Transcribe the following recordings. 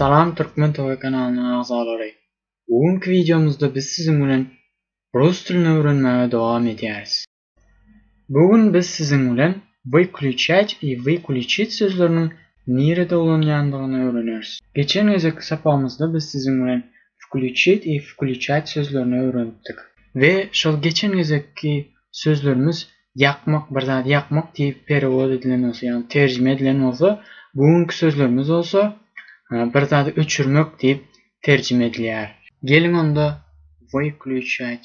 Salam Türkmen Toy kanalynyň agzalary. Bu günki wideomyzda biz siziň bilen rus dilini öwrenmäge dowam edýäris. Bu gün biz siziň bilen wykliçýäç i wykuliçit sözleriniň nirede ulanýandygyny öwreneris. Geçen gezekki sapagymyzda biz siziň bilen wkliçit i wkuliçäç sözlerini öwrenipdik. We şol geçen gezekki sözlerimiz ýakmak, bir zady ýakmak diýip perewod edilen bolsa, ýagny terjime edilen bolsa, bu günki sözlerimiz bolsa bir zady öçürmek diýip terjime edilýär. Geliň onda wykliçýäç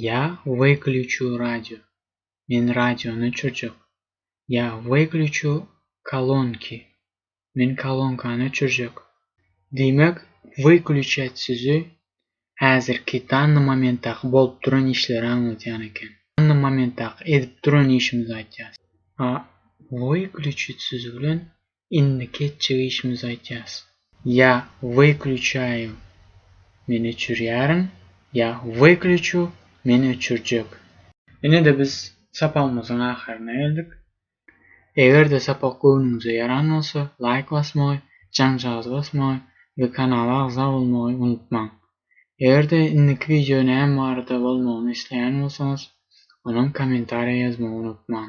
Ýa wyklýuçu radio, men radiony öçürjek. Ýa wyklýuçu kolonki, men kolonkany öçürjek. Diýmek, wyklýuçýaç sözi häzirki danny momentdaky bolup duran işleri aňladýan eken. Danny momentdaky edip duran işimizi aýtýas. A wyklýuçyt sözi bilen Indiki etjek işimizi aýtýas. Ýa wyklýuçaýu, men öçürýärin, ýa wyklýuçu, men öçürjek. Ine-de biz sapagymyzyň ahyryna geldik. Eger-de sapak göwnüňize ýaran bolsa, laýk basmagy, jaňjagaz basmagy we kanala agza bolmagy unutmaň. Eger-de indiki wideo näme barada bolmagyny isleýän bolsaňyz, onam kommentariýa ýazmagy unutmaň.